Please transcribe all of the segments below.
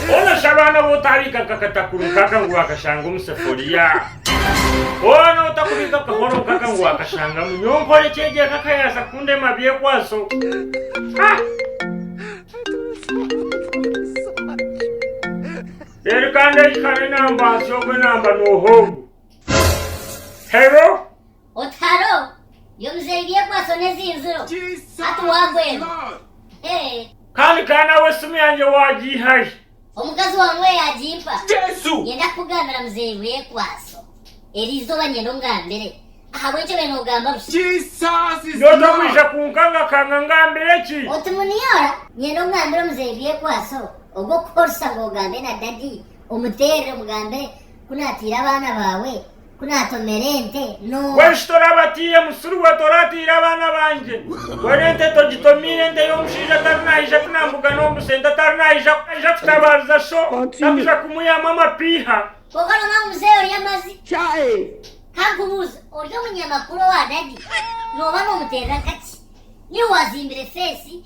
Boona shi abaana bo otaabika akakatakuri nk'aka ngu waakashanga omu seforiya? Boona otakubika akahoro nk'aka ngu waakashangamu? Nyowe nkore ki egyo eka ka yaaza kundema byekwaso? Reero kandi eki kare namba nsi ogwe namba nooha ogu? Hero Oti haro yo muzeyi byekwaso nezinzuro hati wagwenda hee. Kandi ka nawe esimu yangye wagiihahi. Omukazi wawe niwe yagimpa. Jesu. Nyenda kukugambira muzeyi byekwaso eri izooba nyenda ongambire ahabwekyo be nogamba busa. Jesus is Lord. Nyowe otakwija kunkangakanga ngambire ki? Oti muniora nyenda ongambire muzeyi byekwaso ogu okukoresa ngu ogambe na daddy omuterere omugambire ku natiire abaana bawe Ku naatomera ente n'oha? Bw'enki toraabe atiire musiri we tora atiire abaana bangye? Mbwenu ente togitomiire ente y'omushaija atari naija kunambuga n'obusa, ente atari naija naija kutabaariza sho tarikuja kumwihamu amapiiha. Kwonka nooba ori muzeeyi ori amazi. Ka nkubuuze, ori omunyamakuru owa dadi, nooba noomuteerera kaki? Niiwe waazimbire feesi?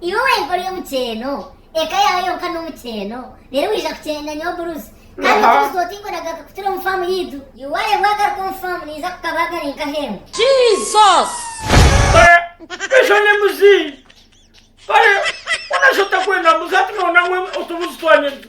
Iwe wenka ori omukyeeno, eka yaawe yonka n'omukyeeno, reero waija kukyenda nyowe buruzi, kandi oburuzi oti ngu nagaruka kutura omu faamu yaitu? Iwe waagaruka omu faamu naija kukabaaga ari nk'ah'embwa. Jesus! Kare esho ni mbuzi. Kare boona shi otakwenda mbuzi hati noona ngu otubuzi twanyirira.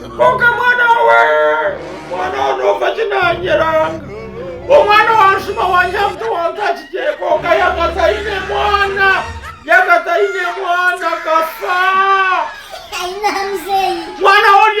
Kwonka mwana we, mwana we nomba ki nanyeranga? Omwana wanshuma wanyiha mutwe wantakigye kwonka yaka taine mwana, yaka taine mwana akafa. Mwana we orye.